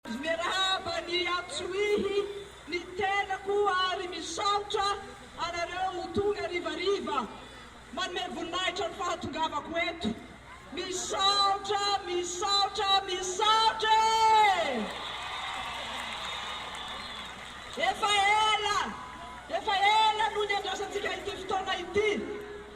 Miarahaba ny Antsohihy ny tenako ary misaotra anareo ho tonga harivariva manome voninahitra ny fahatongavako eto. Misaotra, misaotra, misaotra e! Efa ela, efa ela no niandrasantsika ity fotoana ity.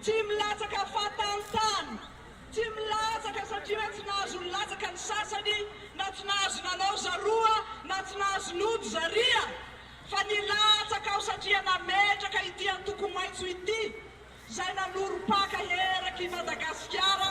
Tsy milatsaka fahatany-tany, tsy milatsaka satria tsy nahazo nilatsaka ny sasany, na tsy nahazo nanao zaroa, na tsy nahazo nody zaria, fa nilatsaka aho satria nametraka ity antoko maitso ity, izay nanorom-paka eraky i Madagasikara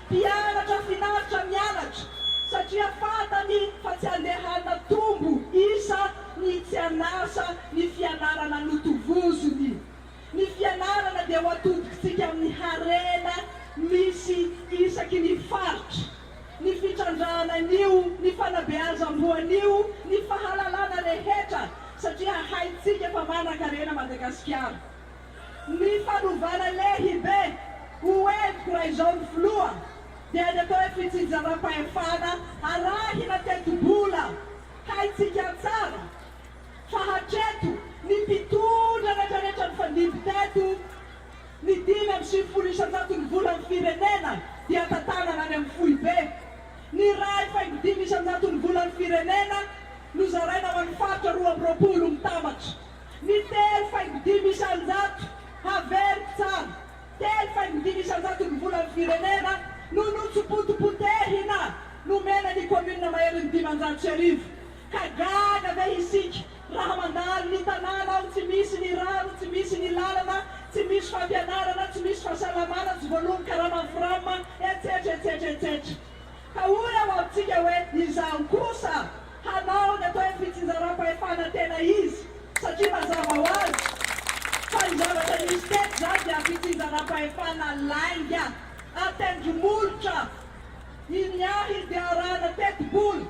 Mpianatra finaritra mianatra satria fantany fa tsy andehana tombo isa ny tsy an'asa ny fianarana notovoziny. Ny fianarana dia ho atodiktsika amin'ny harena misy isaky ny faritra, ny fitrandrahana an'io, ny fanabeazam-boa an'io, ny fahalalana rehetra satria haintsika fa manan-karena Madagasikara. Ny fanovana lehibe ho entiko raha izao ny filoha dia ny atao hoe fitsinjaram-pahefana arahina tetibola. Haintsika tsara fa hatreto ny mpitondra retraretra nifandimby teto ny dimy amby sivifolo isan-jatony volan'ny firenena dia tantanana any amin'ny foibe. Ny iray faingo dimy isan-jatony volan'ny firenena no zaraina ho an'ny faritra roa amby roapolo mitambatra. Ny telo faingo dimy isan-jato, haveriko tsara, telo faingo dimy isan-jaton'ny volan'ny firenena no notsopotom-potehina nomena ny commune maherin'ny dimanjato sy arivo, ka gaga ve isika raha mandalo ny tanàna ao tsy misy ny rano, tsy misy ny lalana, tsy misy fampianarana, tsy misy fahasalamana, tsy voaloan'ny karama fram, etsetra, etsetra, etsetra. Ka hoy aho amintsika hoe izaho kosa. hanao ny atao hoe fitsinjaram-pahefana tena izy satria mazava ho azy fa ny zavatra nisy teto izany dia fitsinjaram-pahefana lainga an-tendromolotra iny ahy dia arahana tetibola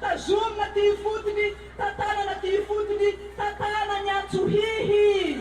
tazomina aty ifotony tantanana aty ifotony tantanany antso hihi